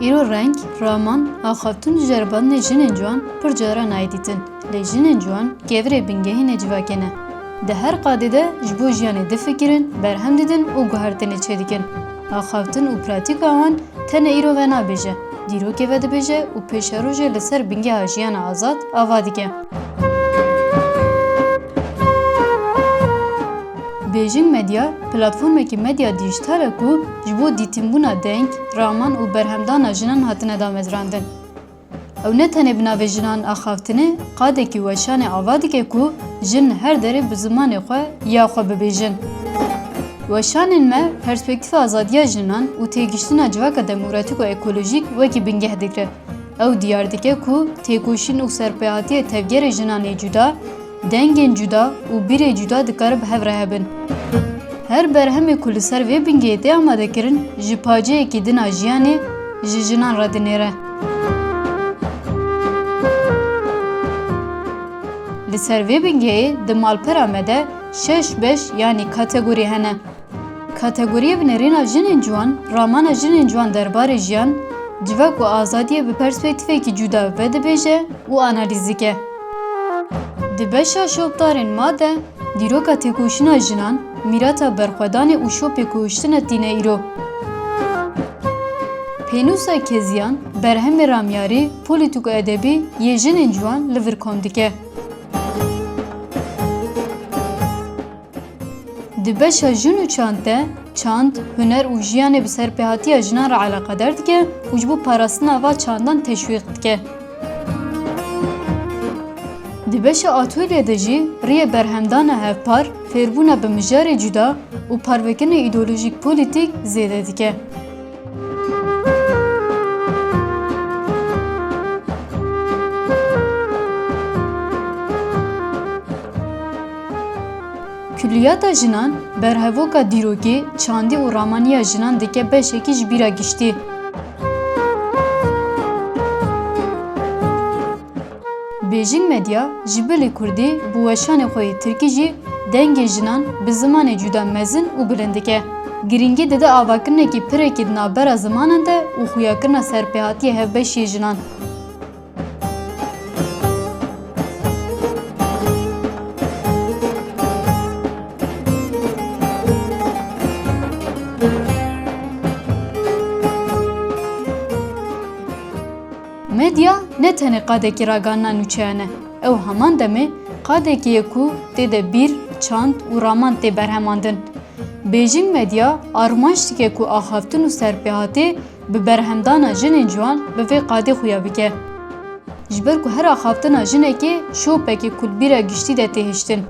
Îro reng, raman a xatûn ji ceribandinê jinên ciwan pir caran nayê dîtin. Lê jinên ciwan kevirê bingehê ne civakê ne. Di her qadê de ji bo jiyanê difikirin, berhem didin û guhertinê çêdikin. Axaftin û pratîka wan tenê îro ve nabêje, dîrokê vedibêje û pêşerojê li ser bingeha jiyana azad ava dike. Bêjin Medya, platformekî medya dîjîtal e ku ji bo dîtinbûna deng, raman û berhemdana jinan hatine damezrandin. Ew ne tenê bi navê jinan axavtine, qadekî weşanê ava dike ku jin li her derê bi zimanê xwe ya xwe bibêjin. Weşanên me perspektîfa azadiya jinan û têgihiştina civaka demokratîk û ekolojîk wekî bingeh digre. Ew diyar dike ku têkoşîn û serpêhatiyê tevgerê jinan ê cuda, dengên cuda û bîrê cuda dikarin bi hev re hebin. Her berhemê ku li ser vê bingehê tê amadekirin ji paceyekî din a jiyanê ji jinan re dinêre. Li ser vê bingehê di malpera me de şeş beş yanî kategorî hene. Kategoriyê bi nêrîna Jinên Ciwan, ramana jinên ciwan derbarê jiyan, civak û azadiyê bi perspektîfekî cûda vedibêje û analîz dike. Di beşa Şopdarên ma de dîroka têkoşîna jinan, mîrata berxwedanê û şopê ku hiştine tîne îro. Pênûsa Keziyan, berhemê ramyarî, polîtîk û edebî yê jinên ciwan li vir kom dike. Di beşa jin û çand de, çand, huner û jiyanê bi serpêhatiya jinan re eleqedar dike û ji bo parastina va çandan teşwîq dike. Di beşa atolye de jî riyê berhemdana hevpar, fêrbûna bi mijarê cuda û parvekinê îdeolojîk-polîtîk zêde dike. Kulliyata jinan berhevoka dîrokê, çandî û ramaniya jinan dike beşekî ji bîra giştî. Beijing Media ji bilê kurdî bi weşanê xwe yê tirkî jî dengê jinan bi zimanê cuda mezin û bilind dike. Girîngî dide avakirinekî pirekî di navbera zimanan de û xuyakirina serpêhatiyê hevbeşî yê jinan. Medya ne tenê qadekî raganina nûçeyan e, ew heman demê qadekî ye ku tê de bîr, çand û raman tê berhemandin. Bêjîn medya armançdike ku axaftin û serpêhatê bi berhemdana jinên ciwan bi vê qadê xuya bike. Ji ber ku her axaftina jinekê şopekê kulbîra giştî de tê hiştin.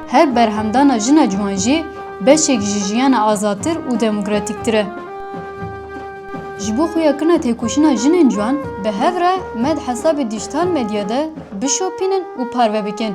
Her berhemdana jina ciwan jî beşek ji jiyana azadtir û demokratîktir e. Ji bo xuya kirina têkoşîna jinên ciwan bi hev re me di hesabê dîjîtal medya de bişopînin û parve bikin.